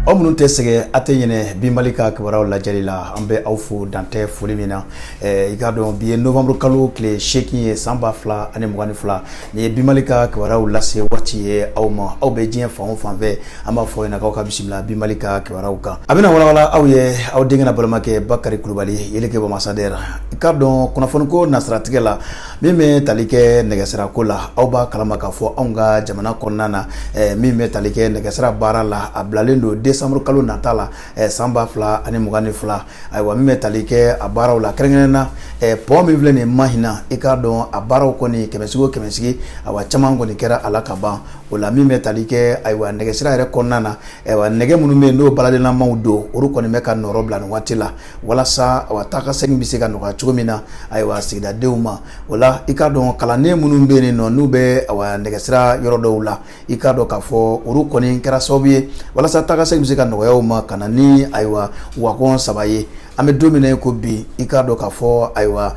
aw minnu tɛ sɛgɛn a tɛ ɲinɛ bi mali ka kibaruyaw lajɛli la an bɛ aw fo dantɛ foli min na eh, i k'a dɔn bi ye novembre kalo tile seegin ye san ba fila ani mugan ni fila nin ye bi mali ka kibaruyaw lase waati ye aw ma aw bɛ diɲɛ fan o fan fɛ an b'a fɔ ɲɛna k'aw ka bisimila bi mali ka kibaruyaw kan a bɛna walawala aw ye aw denkɛ n'aw balimakɛ bakari kulubali yeleke bamasadɛra i k'a dɔn kunnafoniko nasiratigɛ la min bɛ tali kɛ nɛgɛsirako la aw b'a kalama k'a fɔ anw ka jamana kɔnɔna na eh, min bɛ tali kɛ nɛgɛsira baara la a bilalen don desanburu kalo nata la eh, san ba fila ani mugan ni fila ayiwa min bɛ tali kɛ a baaraw la kɛrɛnkɛrɛn na eh, pɔn min filɛ nin ye mahina i k'a dɔn a baaraw kɔni kɛmɛsigi o kɛmɛsigi ayiwa caman kɔni kɛra a la ka ban o la min bɛ tali kɛ ayiwa nɛgɛsira yɛrɛ kɔnɔna na ayiwa nɛgɛ minnu bɛ yen n'o baaralenlamaw don olu kɔni bɛ ka nɔrɔ bila nin waati la walasa awa taa ka segin bɛ se ka nɔgɔya cogo min na ayiwa sigidadenw ma o la i k'a dɔn kalanden minnu bɛ yen nɔ n'u bɛ awa nɛgɛsira yɔrɔ dɔw la i k'a dɔn k'a fɔ olu kɔni kɛra sababu ye walasa taa ka segin bɛ se ka nɔgɔya u ma ka na ni ayiwa wagɔn saba ye an bɛ don min na i ko bi i k'a dɔn k'a fɔ ayiwa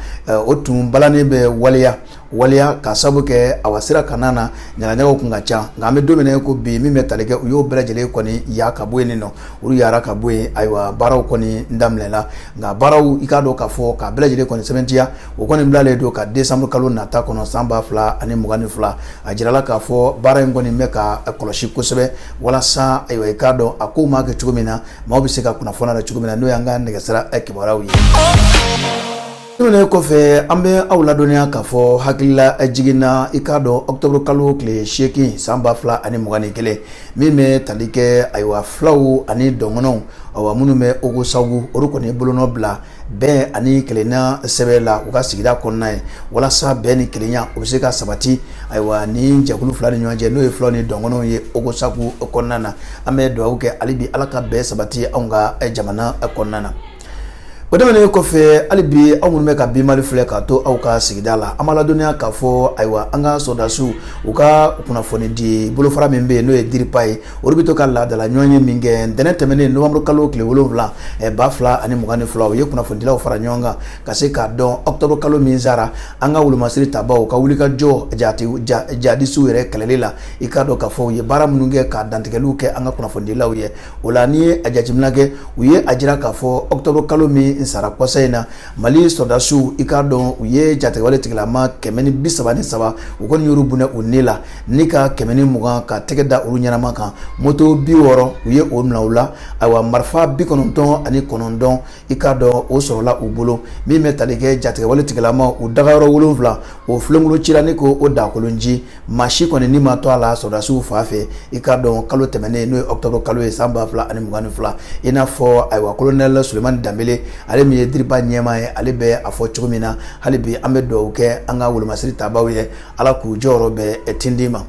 o tun balannen bɛ waleya waleya ka sabu kɛ awa sira kanna na ɲagaɲagaw kun ka ca nka an bɛ don min na ko bi min bɛ tali kɛ u y'o bɛɛ lajɛlen kɔni ya ka bɔ yen nin nɔ olu yara ka bɔ yen ayiwa baaraw kɔni daminɛna nka baaraw i k'a dɔn k'a fɔ k'a bɛɛ lajɛlen kɔni sɛbɛntiya o kɔni bilalen don ka desanburu kalo nata kɔnɔ san ba fila ani mugan ni fila a jirala k'a fɔ baara in kɔni bɛ ka kɔlɔsi kosɛbɛ walasa ayiwa i k'a dɔn a kow maa kɛ cogo min na maaw bɛ se ka kunnafoniya la cogo min na n'o y'an ka nɛgɛsira kibaruyaw ye Tɛmɛnen kɔfɛ an bɛ aw ladɔnniya k'a fɔ hakililajigin na i k'a dɔn octobre kalo tile seegin san ba fila ani mugan ni kelen min bɛ tali kɛ ayiwa fulaw ani dɔngɔnɔnw awa minnu bɛ Ogo Sagu olu kɔni ye bolonɔ bila bɛn ani kelenya sɛbɛn la u ka sigida kɔnɔna ye walasa bɛn ni kelenya o bɛ se ka sabati ayiwa nin jɛkulu fila ni ɲɔgɔn cɛ n'o ye fulaw ni dɔngɔnɔnw ye Ogo Sagu kɔnɔna na an bɛ dugawu kɛ hali bi Ala ka bɛn sabati anw ka jamana kɔnɔna na. o tɛmɛnen kɔfɛ hali bi aw minnu bɛ ka bi mali filɛ k'a to aw ka sigida la an b'aw ladɔnniya k'a fɔ ayiwa an ka sɔrɔdasiw u ka kunnafoni di bolofara min bɛ yen n'o ye diripa ye olu bɛ to ka laadala ɲɔgɔnye min kɛ ntɛnɛn tɛmɛnen nowanburu kalo tile wolonwula eh, ba fila ani mugan ni fila u ye kunnafonidilaw fara ɲɔgɔn kan ka se k'a dɔn ɔkutɔburu kalo min sara an ka wolomasiri tabaw ka wulikajɔ jihadisiw yɛrɛ kɛlɛli la i k'a dɔn k'a fɔ u ye baara minnu kɛ ka dantigɛliw kɛ an ka kunnafonidilaw ye o la n'i ye a jateminɛ kɛ u ye a jira k'a fɔ octobre kalo min sara kɔsa in na mali sɔrɔdasiw i k'a dɔn u ye jatigɛwale tigilama kɛmɛ ni bi saba ni saba u kɔni y'olu bonɛ u ni la ni ka kɛmɛ ni mugan ka tɛgɛ da olu ɲɛnama kan moto bi wɔɔrɔ u ye o minɛ u la ayiwa marifa bi kɔnɔntɔn ani kɔnɔntɔn i k'a dɔn o sɔrɔla u bolo min bɛ tali kɛ jatigɛwale tigilama u dagayɔrɔ wolonwula o filenkolon cira ni k'o dakolonci maa si kɔni ni ma to a la sɔrɔdasiw fan fɛ i k'a dɔn kalo tɛmɛnen n'o ye octobre kalo ye san ba fila ani mugan ni fila i n'a fɔ ayiwa kolonɛli sulemani danbele ale min ye dirpa ɲɛmaa ye ale bɛ a fɔ cogo min na hali bi an bɛ dugawu kɛ an ka wolomasiri tabaaw ye ala k'u jɔyɔrɔ bɛɛ tindi ma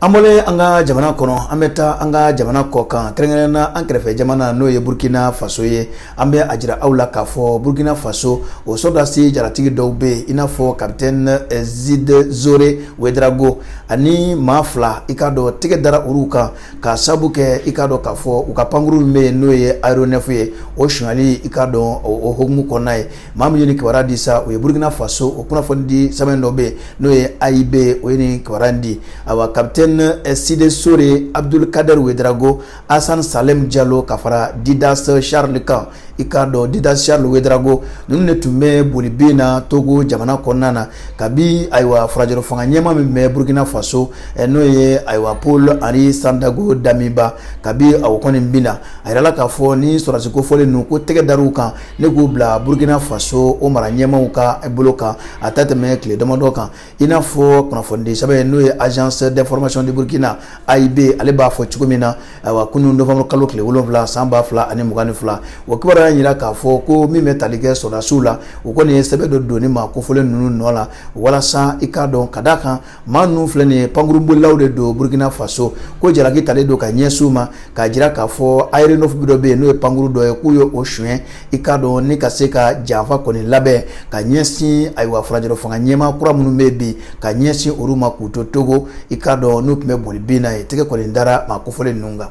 an bɔlen an ka jamana kɔnɔ an bɛ taa an ka jamana kɔkan kɛrɛnkɛrɛnna an kɛrɛfɛ jamana n'o ye burkina faso ye an bɛ a jira aw la k'a fɔ burkina faso o sɔrɔdasi jaratigi dɔw bɛ yen i n'a fɔ kapitɛni eh, side sore wedrago ani maa fila i k'a dɔn tɛgɛ dara olu kan k'a sabu kɛ i k'a dɔn k'a fɔ u ka pankuru min bɛ yen n'o ye aeronef ye o sonyali i k'a dɔn o hokumu kɔnɔna ye maa min ye nin kibaruya di sa o ye burkina faso o kunnafonidi sɛbɛn dɔ bɛ yen n'o ye aib o ye nin kibaruya in di awa kapitɛni eh, side sore abdul kader wedrago asan salɛm jalo ka fara didas charles kan i k'a dɔn didas charles wedrago ninnu de tun bɛ boli bin na togo jamana kɔnɔna na kabi ayiwa furancɛrɔ fanga ɲɛmaa min bɛ burukina faso eh, n'o ye ayiwa paul henri sandaogo damiba kabi a kɔni binna a yirala k'a fɔ nin sɔrɔdasi kofɔlen ninnu ko tɛgɛ dar'u kan ni k'u bila burukina faso o mara ɲɛmaaw ka bolo kan a tɛ tɛmɛ tile damadɔ kan i n'a fɔ kunnafonidi sɛbɛn n'o ye agence d'information de Burkina AIB ale b'a fɔ cogo min na ayiwa kunun novembre kalo tile wolonwula san ba fila ani mugan ni fila o kibaruya y'a jira k'a fɔ ko min bɛ tali kɛ sɔrɔdasiw la u kɔni ye sɛbɛn dɔ don nin maa kofɔlen ninnu nɔ la walasa i k'a dɔn ka d'a kan maa ninnu filɛ nin ye pankurubolilaw de don Burkina Faso ko jalaki talen don ka ɲɛsin u ma k'a jira k'a fɔ aéronef dɔ bɛ yen n'o ye pankuru dɔ ye k'u ye o suɲɛ i k'a dɔn ni ka se ka janfa kɔni labɛn ka ɲɛsin ayiwa furancɛrɔ fanga ɲɛmaa kura minnu bɛ bi ka ɲɛsin olu ma k'u to togo i k'a dɔn n'u tun bɛ boli bin na yen tɛgɛ kɔni dara maa kofɔlen ninnu kan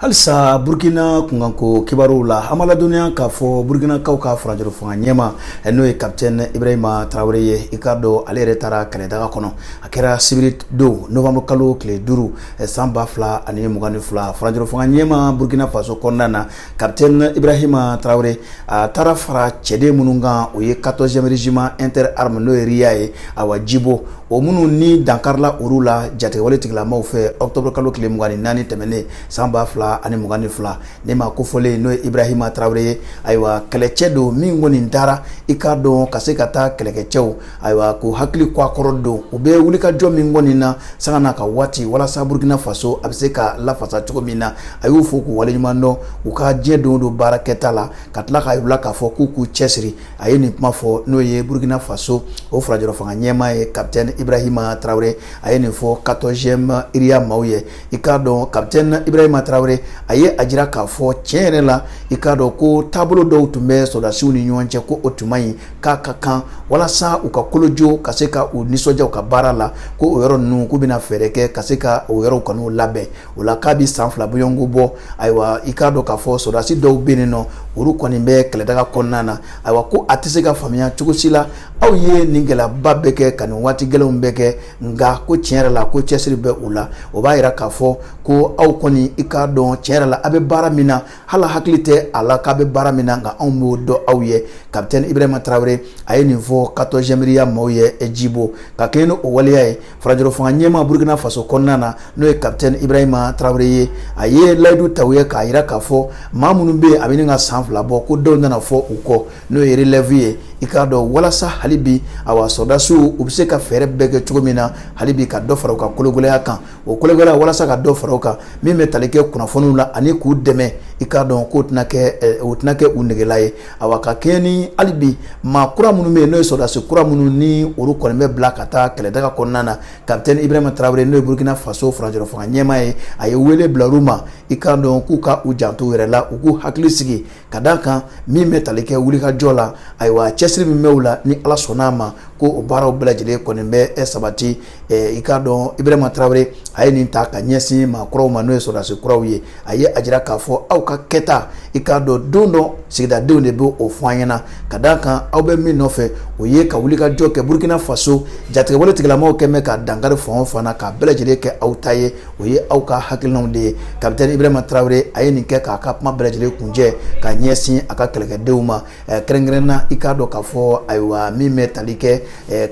halisa burkina kunkanko kibaruw la an b'aw ladɔnniya k'a fɔ burkinakaw ka furancɛrɔ fanga ɲɛmaa n'o ye kapitɛni ibrahima tarawele ye i k'a dɔn ale yɛrɛ taara kɛlɛdaga kɔnɔ a kɛra sibiri don novanburu kalo tile duuru san ba fila ani mugan ni fila furancɛrɔ fanga ɲɛmaa burkina faso kɔnɔna na Capitaine Ibrahima Traoré a taara fara cɛden minnu kan o ye 14e régiment interarmes n'o ye RIA ye awa Djibo o minnu ni dankarila olu la jatigɛwale tigilamaw fɛ octobre kalo tile 24 tɛmɛnen san 2022 nin maa kofɔlen n'o ye Ibrahima Traoré ye ayiwa kɛlɛcɛ don min kɔni taara i k'a dɔn ka se ka taa kɛlɛkɛcɛw ayiwa k'u hakili kɔkɔrɔdon u bɛ wulikajɔ min kɔni na sanga n'a ka waati walasa burukina faso a bɛ se ka lafasa cogo min na a y'u fo k'u waleɲumandɔn u ka diɲɛ don don baara kɛta la ka tila k'a yir'u la k'a fɔ k'u k'u cɛsiri a ye nin kuma fɔ n'o ye burukina faso o furancɛrɔ fanga ɲɛmaa ye kapitɛni ibrahima tarawele a ye nin fɔ quatorzième ria maaw ye i k'a dɔn kapitɛni ibrahima tarawele a ye a jira k'a fɔ tiɲɛ yɛrɛ la i k'a dɔn ko taabolo dɔw tun bɛ sɔrɔdasiw ni ɲɔgɔn cɛ ko o tun man ɲi k'a ka kan walasa u ka kolojo ka se ka u nisɔndiya u ka baara la ko o yɔrɔ ninnu k'u bɛna fɛɛrɛ kɛ ka se ka o yɔrɔw kɔni labɛn o la k'a bɛ san fila bɔɲɔgɔnko bɔ ayiwa i k'a dɔn k'a fɔ sɔrɔdasi dɔw bɛ yen nɔ olu kɔni bɛ kɛlɛdaga kɔnɔna na ayiwa ko a tɛ se ka faamuya cogo si la aw ye nin gɛlɛyaba bɛɛ kɛ ka nin waati gɛlɛnw bɛɛ kɛ nka ko tiɲɛ yɛrɛ la ko cɛsiri bɛ u la o b'a jira k'a fɔ ko aw kɔni i k'a dɔn tiɲɛ yɛrɛ la a bɛ baara min na hali a hakili tɛ a la k'a bɛ baara min na nka anw b'o dɔn aw ye kapitɛni ibrahima tarawele a ye nin fɔ 14e RIA maaw ye jibo ka kɛɲɛ ni o waleya ye furancɛrɔ fanga ɲɛmaa burukina faso kɔnɔna na n'o ye kapitɛni ibrahima tarawele ye a ye layidu ta u ye k'a yira k'a fɔ maa minnu bɛ yen a bɛ ɲini ka san fila bɔ ko dɔw nana fɔ u kɔ n'o ye relɛvu ye i k'a dɔn walasa hali bi awa sɔrɔdasiw u bɛ se ka fɛɛrɛ bɛɛ kɛ cogo min na hali bi ka dɔ fara u ka kologɛlɛya kan o kologɛlɛya walasa ka dɔ fara u kan min bɛ tali kɛ kunnafoniw la ani k'u dɛmɛ i k'a dɔn k'o tɛna kɛ eh, o tɛna kɛ u negela ye awa ka kɛɲɛ ni hali bi maa kura minnu bɛ yen n'o ye sɔrɔdasi kura minnu ni olu kɔni bɛ bila ka taa kɛlɛdaga kɔnɔna na kapitɛni ibrahima tarawele n'o ye burukina faso furancɛrɔ fanga ɲɛmaa ye a ye wele bila olu ma i k'a dɔn k'u ka u janto u yɛrɛ la u k'u hakili sigi ka da kan min bɛ tali kɛ wulikajɔ la ayiwa cɛsiri min bɛ u la ni ala sɔnna a ma ko o baaraw bɛɛ lajɛlen kɔni bɛ sabati i k'a dɔn ibrahima tarawele a ye nin ta ka ɲɛsin maa kuraw ma n'o ye sɔrɔdasi kuraw ye a ye a jira k'a fɔ aw ka kɛta i k'a dɔn don dɔ sigidadenw de bɛ o fɔ an ɲɛna ka da kan aw bɛ min nɔfɛ o ye ka wulikajɔ kɛ burukina faso jatigɛwale tigilamaw kɛn bɛ ka dankari fan o fan na k'a bɛɛ lajɛlen kɛ aw ta ye o ye aw ka hakilinaw de ye kapitɛni ibrahima tarawele a ye nin kɛ k'a ka kuma bɛɛ lajɛlen kuncɛ ka ɲɛsin a ka kɛlɛkɛdenw ma eh, kɛrɛnkɛrɛnna i k'a dɔn k'a fɔ ayiwa min bɛ tali kɛ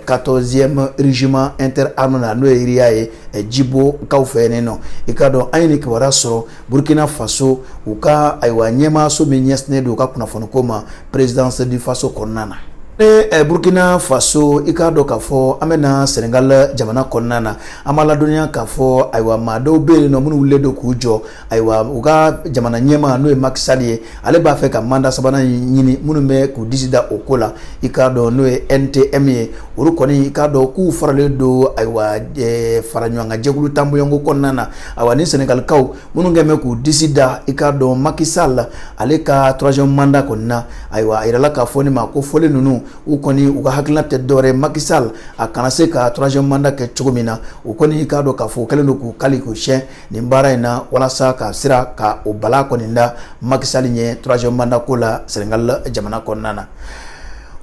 14e eh, régiment interarmes na n'o ye RIA ye eh, jibo kaw fɛ yen nɔ i k'a dɔn an ye nin kibaruya sɔrɔ burkina faso u ka ayiwa ɲɛmaaso min ɲɛsinnen don u ka kunnafoniko ma présidence du faso kɔnɔna na eh, burkina faso i k'a dɔn k'a fɔ an bɛ na senegal jamana kɔnɔna na an b'a ladɔnniya k'a fɔ ayiwa maa dɔw bɛ yen nɔ minnu wulilen don k'u jɔ ayiwa u ka jamana ɲɛmaa n'o ye Macky Sall ye ale b'a fɛ ka manda sabanan in ɲini minnu bɛ k'u disi da o ko la i k'a dɔn n'o ye NTM ye olu kɔni i k'a dɔn k'u faralen don ayiwa eh, fara ɲɔgɔn kan jɛkulu tan bɔɲɔgɔnko kɔnɔna na ayiwa ni Senegalikaw minnu kɛn bɛ k'u disi da i k'a dɔn Macky Sall ale ka troisième mandat kɔni na ayiwa a yirala k'a fɔ nin maa kofɔlen ninnu u kɔni u ka hakilina tɛ dɔwɛrɛ Macky Sall a kana se ka troisième mandat kɛ cogo min na u kɔni i k'a dɔn k'a fɔ u kɛlen don k'u kali k'u siyɛn nin baara in na walasa ka sira ka o balan kɔni da Macky Sall ɲɛ troisième mandat ko la Senegal jamana kɔnɔna na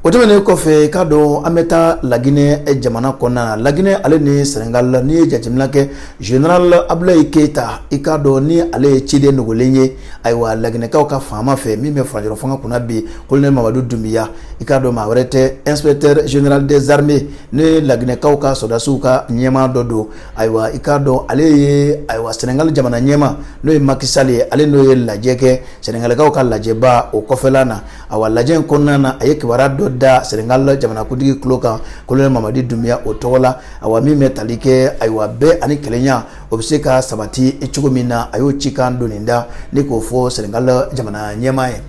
o tɛmɛnen kɔfɛ i k'a dɔn an bɛ taa laginɛ jamana kɔnɔna na laginɛ ale ni sɛnɛgali n'i ye jateminɛ kɛ general abulayi keyita i k'a dɔn ni ale ye ciden dogolen ye ayiwa laginɛkaw ka faama fɛ min bɛ furancɛrɔ fanga kunna bi kolonɛli mamadu dunbuya i k'a dɔn maa wɛrɛ tɛ inspecteur général des armées n'o ye laginɛkaw ka sɔrɔdasiw ka ɲɛmaa dɔ don ayiwa i k'a dɔn ale ye ayiwa sɛnɛgali jamana ɲɛmaa n'o ye macky sall ye ale n'o ye lajɛ kɛ sɛnɛgalikaw ka lajɛba o kɔfɛla na awa lajɛ in kɔnɔna na a ye kibaruya dɔ da sɛnɛgali jamanakuntigi tulo kan kolonɛli mamadi dunbuya o tɔgɔ la awa min bɛ tali kɛ ayiwa bɛn ani kelenya o bɛ se ka sabati cogo min na a y'o cikan doni da ni k'o fɔ sɛnɛgali jamana ɲɛmaa ye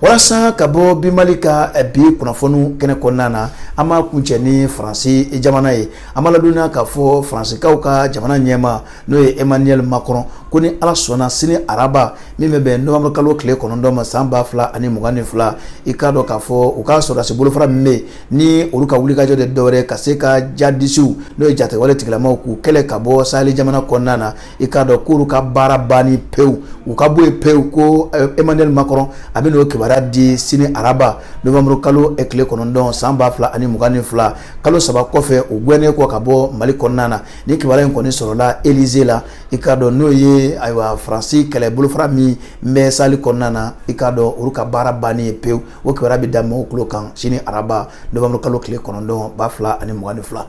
walasa ka bɔ bi mali ka eh, bi kunnafoniw kɛnɛ kɔnɔna na an b'a kuncɛ ni faransi jamana ye an b'a ladɔnniya k'a fɔ faransikaw ka jamana ɲɛmaa n'o ye emmanuel macron ko ni ala sɔnna sini araba min bɛ bɛn novembre kalo tile kɔnɔntɔn ma san ba fila ani mugan ni fila i k'a dɔn k'a fɔ u ka sɔrɔdasi bolofara min bɛ ni olu ka wulikajɔ tɛ dɔwɛrɛ ka se ka jihadisiw n'o ye jatigɛwale tigilamaw k'u kɛlɛ ka bɔ saheli jamana kɔnɔna na i k'a dɔn k'olu ka baara banni pewu u ka bɔ yen pewu ko eh, emmanuel macron a bɛ n'o kibaruya di sini araba novembre kalo eh, tile kɔnɔntɔn san ba fila ani mugan ni fila kalo saba kɔfɛ u gɛnnen kɔ ka bɔ mali kɔnɔna na ni kibaruya in kɔni sɔrɔla elize la i k'a dɔn n'o ye ayiwa faransi kɛlɛ bolofara min bɛ saheli kɔnɔna na i k'a dɔn olu ka baara banni ye pewu o kibaruya bɛ da mɔgɔw tulo kan sini araba novembre kalo tile kɔnɔntɔn ba fila ani mugan ni fila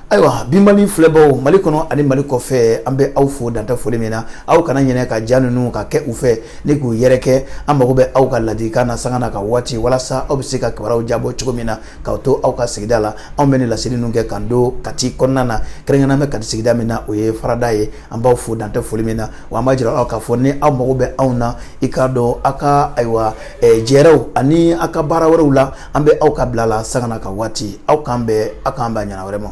ayiwa bi mali filɛbaw mali kɔnɔ ani mali kɔfɛ an bɛ aw fo dantɛ foli min na aw kana ɲinɛ ka ja ninnu ka kɛ u fɛ ni k'u yɛrɛkɛ an mago bɛ aw ka ladilikan na sanga na ka waati walasa aw bɛ se ka kibaruyaw diyabɔ cogo min na k'aw to aw ka sigida la anw bɛ nin laseli ninnu kɛ k'an to kati kɔnɔna na kɛrɛnkɛrɛnnenya bɛ kati sigida min na o ye farada ye an b'aw fo dantɛ foli min na wa an b'a jira aw k'a fɔ ni aw mago bɛ anw na i k'a dɔn aw ka ayiwa jɛɛrɛw ani aw ka baara wɛrɛw la an bɛ aw ka bila la sanga na ka waati aw k'an bɛn aw k'an bɛn a ɲɔgɔnna wɛrɛ ma